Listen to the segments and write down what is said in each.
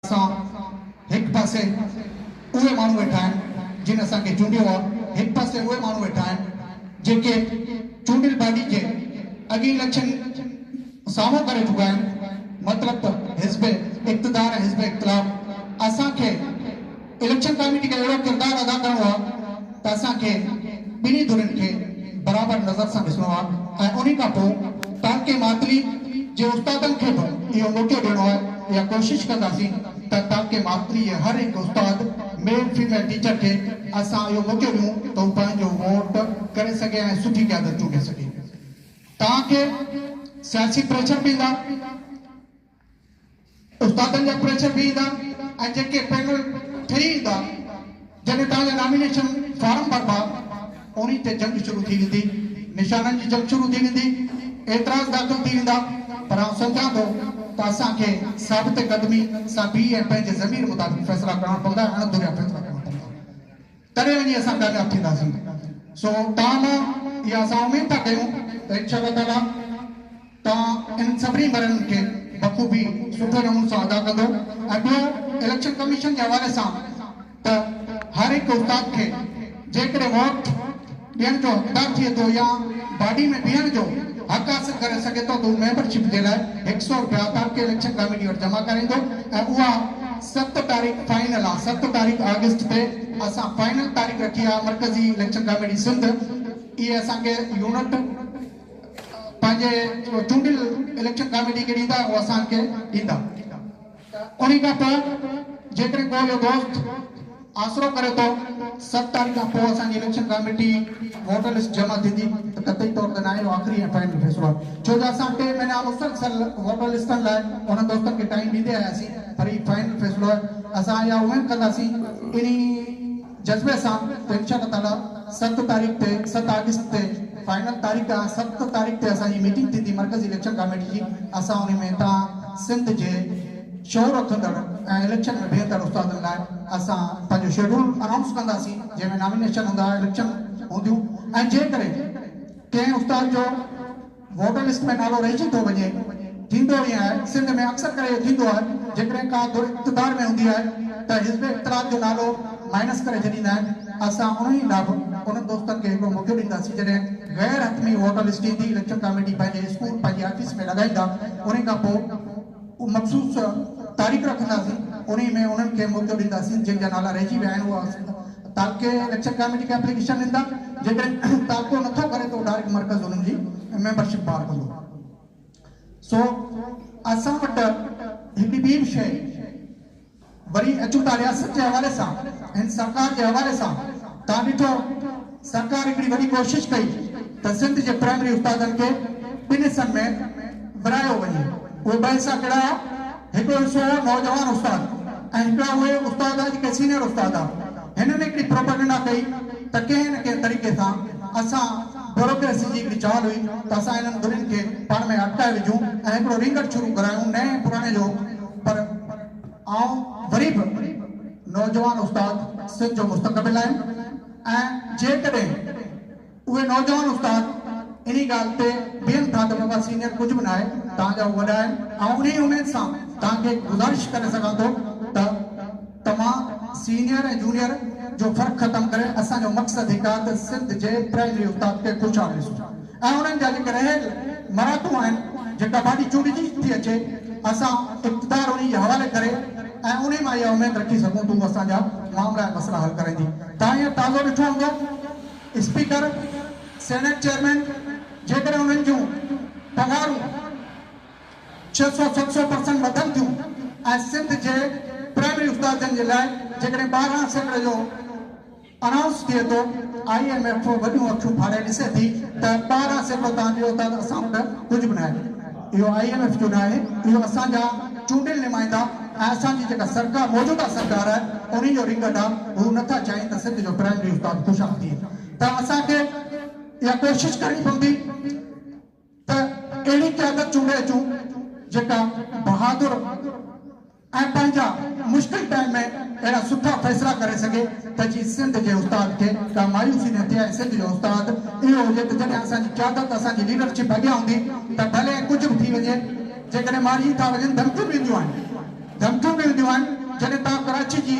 اسان هڪ پاسي اهي ماڻهو ويٺا آهن جن اسان کي چونڊيو آهي، هڪ پاسي اهي ماڻهو ويٺا آهن جيڪي چونڊيل پارٽي کي اڳين اليڪشن سامهون ڪري چڪا آهن، مطلب ته حزب اقتدار ۽ حزب اختلاف اسان کي. اليڪشن ڪاميٽي کي اهڙو ڪردار ادا ڪرڻو آهي ته اسان کي ٻنهي ڌرين کي برابر نظر سان ڏسڻو آهي ۽ انهي کان پوء تعلقي ماتلي جي استادن کي به اهو موقعو ڏيڻو آهي اها ڪوشش ڪنداسين ته تعلقي ماتلي جي هر هڪ استاد ميل فيميل ٽيچر کي اسان اهو موقعو ڏيون ته هو پنهنجو ووٽ ڪري سگهي ۽ سٺي قيادت چونڊي سگهي توهان کي سياسي پريشر پيندا. استادن جا پريشر به ايندا ۽ جيڪي پينل ٺهي ايندا جڏهن توهان جا نامينيشن فارم ڀربا انهي تي جنگ شروع ٿي ويندي نشانن جي جنگ شروع ٿي ويندي اعتراض داخل ٿي ويندا پر آئون سمجهان ٿو ته اسان کي ثابت قدمي سان بيهي ۽ پنهنجي ضمير مطابق فيصلا ڪرڻا پوندا ۽ اڻڌريا فيصلا ڪرڻا پوندا. تڏهن وڃي اسان ڪامياب ٿينداسين. سو توهان مان اها اسان اميد ٿا ڪيون ته ان شاء الله تعاليٰ توهان انهن سڀني مرحلن کي بخوبي سٺي نموني سان ادا ڪندو ۽ ٻيو اليڪشن ڪميشن جي حوالي سان ته هر هڪ استاد کي جيڪڏهن ووٽ ڏين جو ڊر ٿئي ٿو يا باڊي ۾ بيهڻ جو حق حاصل ڪري سگهي ٿو ته هو ميمبر شپ جي لاء هڪ سئو رپيا پارٽي اليڪشن ڪاميٽي وٽ جمع ڪرائيندو ۽ اها ست تاريخ فائنل آ ست تاريخ آگسٽ تي اسان فائنل تاريخ رکي آ مرڪزي اليڪشن ڪاميٽي سنڌ اهي اسان کي يونٽ پنهنجي چونڊيل اليڪشن ڪاميٽي کي ڏيندا ۽ هو اسان کي ڏيندا. انهي کان پوء جيڪڏهن ڪو اهو دوست آسرو ڪري ٿو ست تاريخ کان پوء اسان جي اليڪشن ڪاميٽي ووٽر لسٽ جمع ٿيندي ته قطعي طور تي ناهي اهو آخري ۽ فائنل فيصلو آهي ڇو جو اسان ٽي مهينا مسلسل ووٽر لسٽن لاء انهن دوستن کي ٽائيم ڏيندي آياسين پر هي فائنل فيصلو آهي اسان اها اميد ڪنداسين انهي جذبي سان ٽينشن نه ڏا، ست تاريخ تي ست آگسٽ تي فائنل تاريخ آ، ست تاريخ تي اسان جي ميٽنگ ٿيندي مرڪزي اليڪشن ڪاميٽي جي، اسان انهي ۾ توهان سنڌ جي شعور رکندڙ ۽ اليڪشن ۾ بيهندڙ استادن لاء اسان پنهنجو شيڊول انائونس ڪنداسين جنهن ۾ نامينيشن هوندا اليڪشن هونديون ۽ جيڪڏهن ڪنهن استاد جو ووٽر لسٽ ۾ نالو رهجي ٿو وڃي، ٿيندو ائين آهي، سنڌ ۾ اڪثر ڪري اهو ٿيندو آهي، جيڪڏهن ڪا ڌر اقتدار ۾ هوندي آهي ته حزب اختلاف جو نالو مائنس ڪري ڇڏيندا آهن، اسان انهي لاء به انهن دوستن کي هڪڙو موقعو ڏينداسين جڏهن غير حتمي ووٽر لسٽ ايندي اليڪشن ڪاميٽي پنهنجي اسڪول پنهنجي آفيس ۾ لڳائيندا انهي کان پوء مخصوص تاريخ رکنداسين انهي ۾ انهن کي موقعو ڏينداسين جن جا نالا رهجي ويا آهن اها تعلقي اليڪشن ڪاميٽي کي اپليڪيشن ڏيندا جيڪڏهن تعلقو نٿو ڪري ته ڊائريڪٽ مرڪز انهن جي ميمبرشپ بحال ڪندو سو اسان وٽ هڪڙي ٻي به شيء وري اچون ٿا رياست جي حوالي سان ھن سرڪار جي حوالي سان تان ڏٺو سرڪار ھڪڙي وڏي ڪوشش ڪئي ته سنڌ جي پرائمري استادن کي ٻن حصن ۾ ورھايو وڃي اھي ٻه حصا ڪھڙا ھئا ھڪڙو حصو ھو نوجوان استاد ۽ ھڪڙا اھي استاد ھئا جيڪي سينئر استاد ھئا ھنن ھڪڙي پروپئگنڊا ڪئي ته ڪنھن نه ڪنھن طريقي سان اسان بيوروڪريسي جي ھڪڙي چال ھئي ته اسان ھنن ٻنھين کي پاڻ ۾ اٽڪائي وجھون ۽ ھڪڙو رينگٽ شروع ڪرايون نئين ۽ پراڻي جو پر آئون وري به نوجوان استاد سنڌ جو مستقبل آهيان ۽ جيڪڏهن اهي نوجوان استاد انهي ڳالهه تي بيهن ٿا ته بابا سينيئر ڪجهه به ناهي توهان جا هو وڏا آهن آئون انهي اميد سان توهان کي گذارش ڪري سگهان ٿو ته توهان سينيئر ۽ جونيئر جو فرق ختم ڪري اسان جو مقصد هڪ آهي ته سنڌ جي پرائمري استاد کي خوشحال ڏسون. ۽ انهن جا جيڪي رهيل مراحتون آهن جيڪا باڊي چونڊجي ٿي اچي اسان اقتدار انهي جي حوالي ڪري ۽ انهي مان اها اميد رکي سگهون ٿون اسان جا معاملا ۽ مسئلا حل ڪرائيندي توهان هينئر تازو ڏٺو هوندو اسپيڪر سينيٽ چيئرمين جيڪڏهن انهن جون پگهارون ڇهه سؤ ست سؤ پرسنٽ وڌن ٿيون ۽ سنڌ جي پرائمري استادن جي لاء جيڪڏهن ٻارهن سيڪڙي جو انائونس ٿئي ٿو، آء ايم ايف وڏيون اکيون ڦاڙي ڏسي ٿي ته ٻاهران سيڪڙو تان جو اٿا ته اسان وٽ ڪجهه به ناهي. اهو آء ايم ايف جو ناهي، اهو اسان جا چونڊيل نمائندا ۽ اسان جي جيڪا سرڪار موجوده سرڪار آهي انهي جو رنگٽ آهي، هو نه ٿا چاهين ته سنڌ جو پرائمري استاد خوشحال ٿئي ته اسان کي اها ڪوشش ڪرڻي پوندي. ته اهڙي قيادت چونڊي اچون جيڪا بهادر ۽ پنهنجا مشڪل ٽائيم ۾ اهڙا سٺا فيصلا ڪري سگهي ته جي سنڌ جي استاد کي ڪا مايوسي نه ٿئي ۽ سنڌ جو استاد اهو هجي ته جڏهن اسان جي قيادت اسان جي ليڊرشپ اڳيان هوندي ته ڀلي ڪجهه به ٿي وڃي جيڪڏهن مارجي ٿا وڃن ڌمڪيون به اينديون آهن ڌمڪيون به اينديون آهن جڏهن توهان ڪراچي جي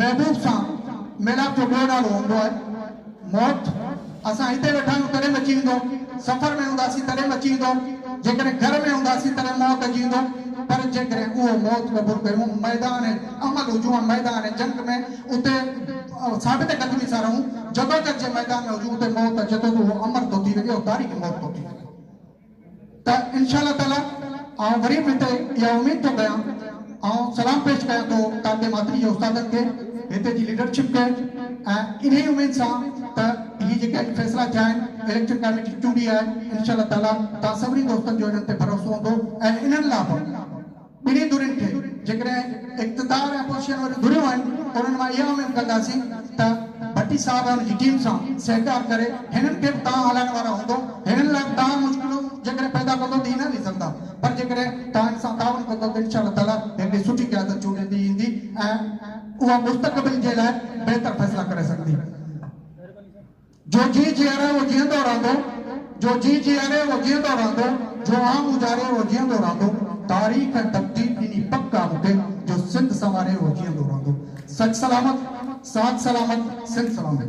محبوب سان ميلاپ جو ٻيو نالو هوندو آهي موت. اسان هتي ويٺا آهيون تڏهن به اچي ويندو، سفر ۾ هونداسين تڏهن به اچي ويندو، جيڪڏهن گهر ۾ هونداسين تڏهن موت اچي ويندو، پر جيڪڏهن اهو موت قبول ڪيون ميدان عمل هجون ۽ ميدان جنگ ۾ اتي ثابت قدمي سان رهون، جدوجھد جي ميدان ۾ هجون اتي موت اچي ٿو ته اهو امر ٿو ٿي وڃي، اهو تاريخي موت ٿو ٿي وڃي. ته انشاء الله تعاليٰ آئون وري به هتي اها اميد ٿو ڪيان آئون سلام پيش ڪيان ٿو ٽانڊي ماتري جي استادن کي هتي جي ليڊرشپ کي ۽ انهي اميد سان ته هي جيڪي اڄ فيصلا ٿيا آهن اليڪشن ڪاميٽي چونڊي آهي انشاء الله تعاليٰ توهان سڀني دوستن جو انهن تي ڀروسو هوندو ۽ انهن لا به ٻنهي ڌرين کي جيڪڏهن اقتدار ۽ اپوزيشن واريون ڌريون آهن انهن مان اها اميد ڪنداسين ته ڀٽي صاحب ۽ ان جي ٽيم سان سهڪار ڪري هنن کي به تان هلائڻ وارا هوندو هنن لاء به تان مشڪلون جيڪڏهن پيدا ڪندو ته هي نه وسرندا پر جيڪڏهن تان هن سان تعاون ڪندو ته انشاء الله تعالي هڪڙي سٺي قيادت چونڊيندي ايندي ۽ اها مستقبل جي لاء بهتر فيصلا ڪري سگهندي. جو جي جيئري اهو جيئندو رهندو، جو جي جيئري اهو جيئندو رهندو، جو آنگ اجاري اهو جيئندو رهندو، تاريخ ۽ تقدير ڏني پڪ آ مونکي، جو سنڌ سنواري اهو جيئندو رهندو. سچ سلامت، ساچ سلامت، سنڌ سلامت.